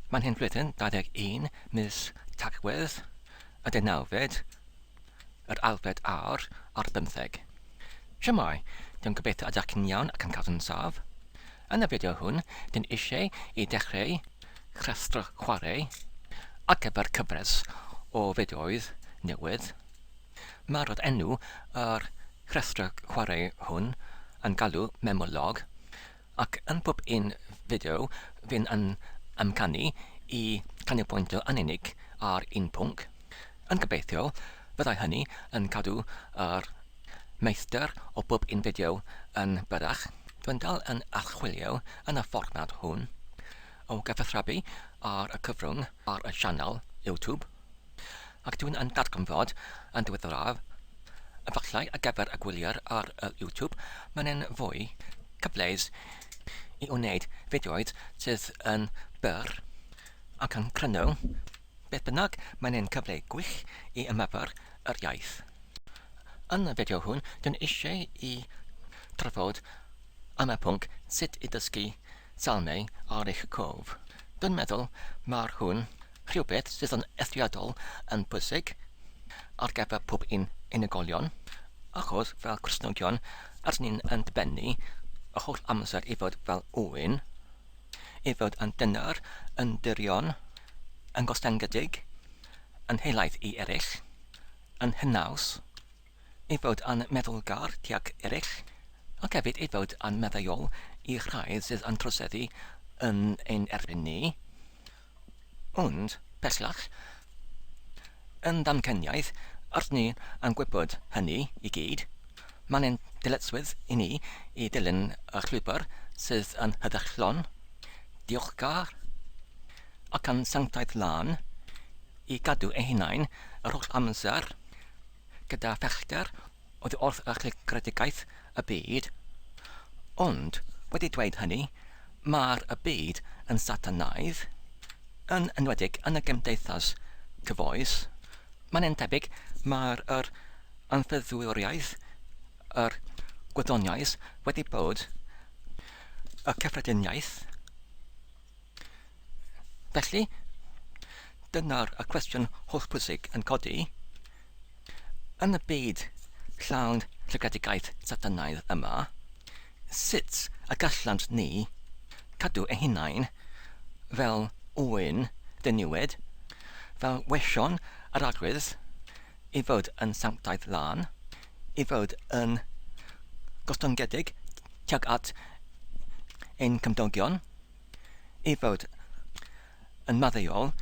Mae'n hen flwyddyn, 21 mis Tachwedd, y deunawfed, yr alfed a'r ar bymtheg. Shwmae, dwi'n gobeithio ydych chi'n iawn ac yn cadw yn saff. Yn y fideo hwn, dyn eisiau i dechreu rhestr chwarae ar gyfer cyfres o fideoedd newydd. Mae'r rod enw yr rhestr chwarae hwn yn galw Memolog. Ac yn pob un fideo fydd yn amcanu i ganolbwyntio yn unig ar un pwnc, yn gobeithio fyddai hynny yn cadw yr meistr o bob un fideo yn byrrach. Dwi'n dal yn archwilio yn y fformat hwn o gyfathrebu ar y cyfrwng ar y sianel YouTube. Ac dw i'n yn darganfod, yn ddiweddaraf, efallai ar gyfer y gwyliwr ar y YouTube, mae'n un fwy cyfleus i wneud fideoedd sydd yn byr ac yn cryno, beth bynnag, mae'n un cyfle gwych i ymarfer yr iaith. Yn y fideo hwn, dw i'n eisiau i drafod am y pwnc sut i ddysgu Salmau ar eich cof. Dwi'n meddwl mae'r hwn rhywbeth sydd yn eithriadol yn bwysig ar gyfer pob un unigolion, achos fel Cristnogion rydyn ni'n yn dybennu yr holl amser i fod fel Owen, i fod yn dyner, yn dirion, yn gostyngedig, yn helaeth i eraill, yn hynaws. ei fod yn meddwlgar tuag eraill, ac hefyd ei fod yn maddeuol i rhai sydd yn troseddu yn ein erbyn ni, ond, bellach, yn ddamcaniaeth, rydyn ni yn gwybod hynny i gyd, mae'n ein dyletswydd i ni i ddilyn y llwybr sydd yn heddychlon, diolchgar, ac yn sanctaidd lân, i gadw ein hunain yr holl amser, gyda phellter oddi wrth archegredigaeth y byd, ond wedi dweud hynny, mae'r y byd yn Satanaidd, yn enwedig yn y gymdeithas cyfoes. Mae'n yn tebyg mae'r yr anffyddwriaeth, yr gwyddoniaeth wedi bod y cyffrediniaeth Felly, dyna'r y cwestiwn hollbwysig yn codi, yn y byd llawn tragedigaeth Satanaidd yma, sut y gallant ni cadw ein hunain fel ŵyn ddiniwed, fel weision yr Arglwydd, i fod yn sanctaidd lân, i fod yn gostongedig tuag at ein cymdogion? ei fod yn maddeuol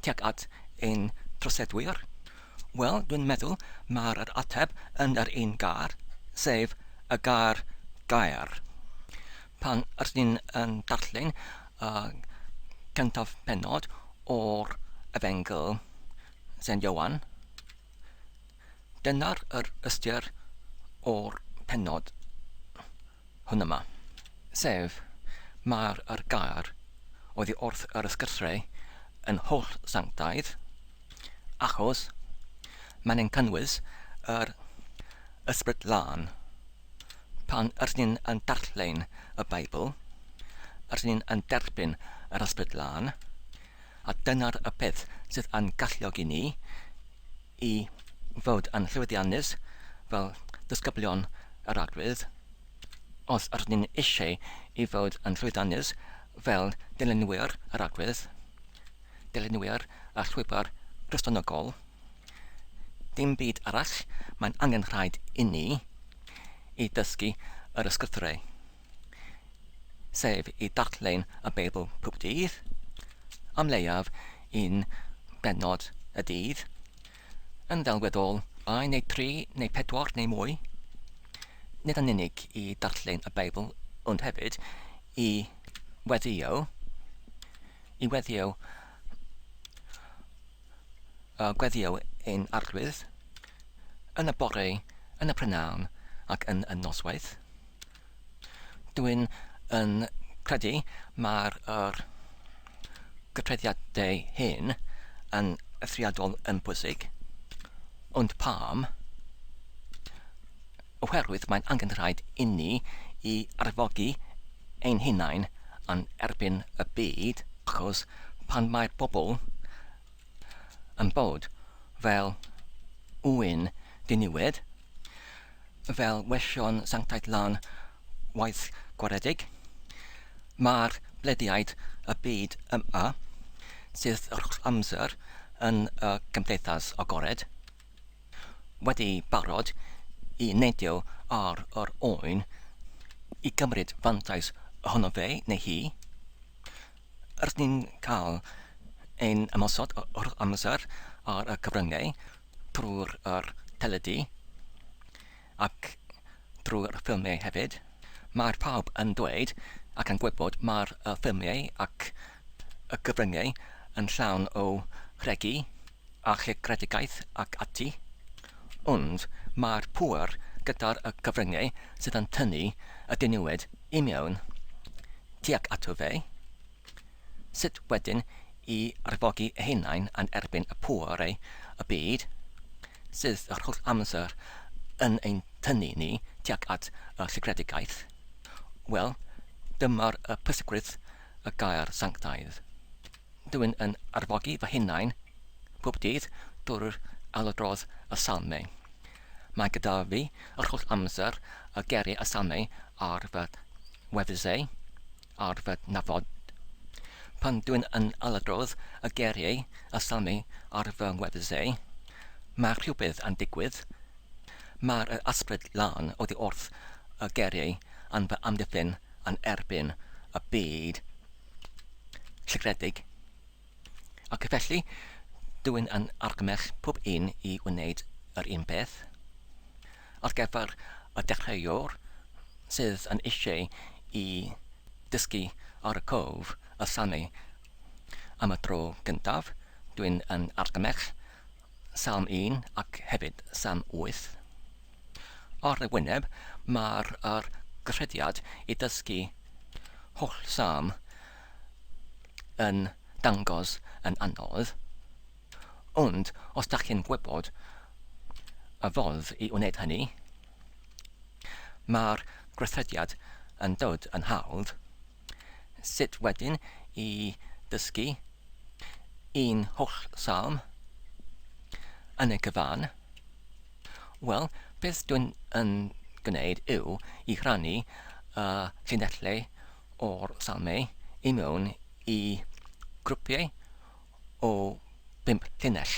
tuag at ein troseddwyr? Wel, dwi'n meddwl mae'r yr ateb yn yr un gair, sef y gair gair. Pan ydych chi'n yn darllen y cyntaf penod o'r Efengyl Sen Ioan, Dyna'r yr ystyr o'r pennod hwn yma. Sef, mae'r yr gair oddi wrth yr ysgythre yn holl sanctaidd, achos mae'n yn cynnwys yr Ysbryd Lân. Pan yr ni'n yn darllen y Beibl, yr ni'n yn derbyn yr Ysbryd Lân, a dyna'r y peth sydd yn galluogi ni i fod yn llwyddiannus fel disgyblion yr arglwydd, os ydyn ni'n eisiau i fod yn llwyddiannus fel dylunwyr yr arglwydd, dylunwyr y llwybr Gristnogol, dim byd arall, mae'n angenrhaid inni i ddysgu yr Ysgrythurau. sef i darllen y Beibl pob dydd, am leiaf un bennod y dydd, yn ddelweddol ddau neu dri neu pedwar neu mwy, nid yn unig i darllen y Beibl, ond hefyd i weddio, i weddio a gweddio yn arglwydd, yn y bore, yn y prynhawn ac yn y noswaith. Dwi'n yn credu mae'r yr gytreiddiadau hyn yn eithriadol yn bwysig. Ond pam? Oherwydd mae'n angen rhaid inni i arfogi ein hunain yn erbyn y byd, achos pan mae'r bobl yn bod fel ŵyn diniwed, fel wesion sanctaidd lan waith gwaredig, mae'r blediaid y byd yma, sydd yr holl amser yn y gymdeithas agored, wedi barod i neidio ar yr oen i gymryd fantais ohono fe neu hi, rydyn ni'n cael ein ymosod yr holl amser ar y cyfryngau, trwy'r teledu ac drwy'r ffilmiau hefyd. Mae pawb yn dweud ac yn gwybod mae'r ffilmiau ac y cyfryngau yn llawn o regi a chreadigaeth ac ati, ond mae'r pŵer gyda'r cyfryngau sydd yn tynnu y diniwed i mewn tuag ato fe. Sut wedyn i arfogi eu hunain yn erbyn y pwerau y byd sydd yr holl amser yn ein tynnu ni tuag at y sigredigaeth? Wel, dyma'r pwysigrwydd y gair sanctaidd. Dw i'n yn arfogi fy hunain pob dydd drwy'r ailadrodd y Salmau. Mae gyda fi yr holl amser y geiriau y Salmau ar fy wefusau. ar fy nhafod. Pan dwi'n yn aladrodd y geiriau a salmi ar fy ngwefusau, mae rhywbeth yn digwydd. Mae'r ysbryd lân oddi wrth y geiriau yn fy amddiffyn yn erbyn y byd sigredig. Ac felly, dwi'n yn argymell pob un i wneud yr un peth. Ar gyfer y dechreuwr sydd yn eisiau i ddysgu ar y cwf a sanu am y tro gyntaf, dwi'n yn argymell Salm un ac hefyd Salm wyth. Ar y wyneb, mae'r yr gyrhiad i ddysgu holl Salm yn dangos yn anodd. Ond os dach chi'n gwybod y ffordd i wneud hynny, mae'r gweithrediad yn dod yn hawdd. Sut wedyn i ddysgu un holl Salm yn y cyfan? Wel, beth dwi'n yn gwneud yw i rannu y llinellau o'r Salmau i mewn i grwpiau o bump llinell.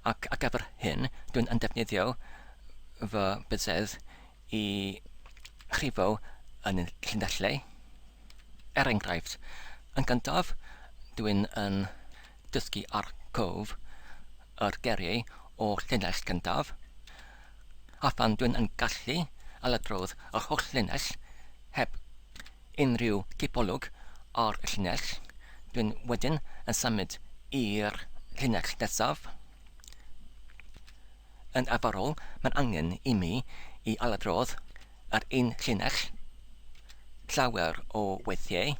Ac ar gyfer hyn, dwi'n yn defnyddio fy byzedd i chrifo yn y llinellau. Er enghraifft, yn gyntaf, dwi'n yn dysgu ar cof yr geriau o llinell gyntaf, a phan dwi'n yn gallu ailadrodd yr holl linell heb unrhyw gipolwg ar y llinell, dwi'n wedyn yn symud i'r llinell nesaf. Yn arferol, mae'n angen i mi i ailadrodd yr un llinell llawer o weithiau,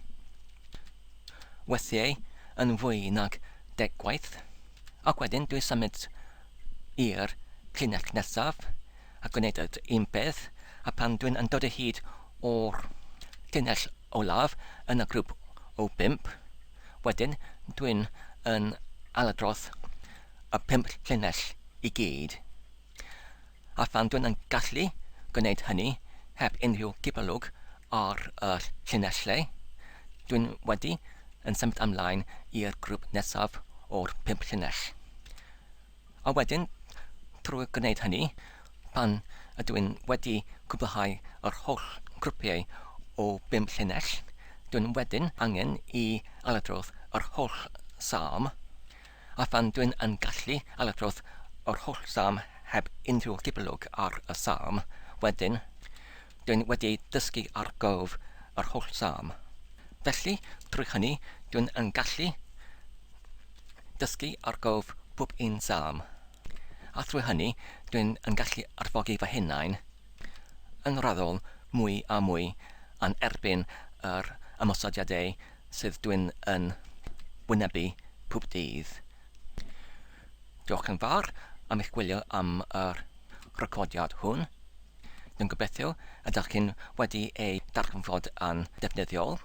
weithiau yn fwy nag deg gwaith, ac wedyn dwi'n symud i'r llinell nesaf, a gwneud yr un peth, a phan dwi'n yn dod o hyd o'r llinell olaf yn y grŵp o bump, wedyn dwi'n yn ailadrodd y pump llinell i gyd. A phan dwi'n yn gallu gwneud hynny heb unrhyw gipolwg ar y llinellau, dwi'n wedi yn symud ymlaen i'r grŵp nesaf o'r pump llinell. A wedyn, trwy gwneud hynny, pan ydw i'n wedi cwblhau yr holl grwpiau o bum llinell, dw i'n wedyn angen i ailadrodd yr holl Salm, a phan dw i'n yn gallu ailadrodd yr holl Salm heb unrhyw gipolwg ar y Salm, wedyn, dw i'n wedi dysgu ar gof yr holl Salm. Felly, drwy hynny, dw i'n yn gallu Dysgu ar gof pob un Salm. A thrwy hynny dwi'n yn gallu arfogi fy hunain yn raddol mwy a mwy yn erbyn yr ymosodiadau sydd dwi'n yn wynebu pob dydd. Diolch yn fawr am eich gwylio am yr recordiad hwn. Dwi'n gobeithio y dach chi'n wedi ei darganfod yn ddefnyddiol.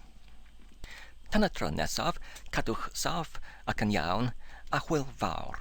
Tan y tro nesaf, cadwch saff ac yn iawn, a hwyl fawr!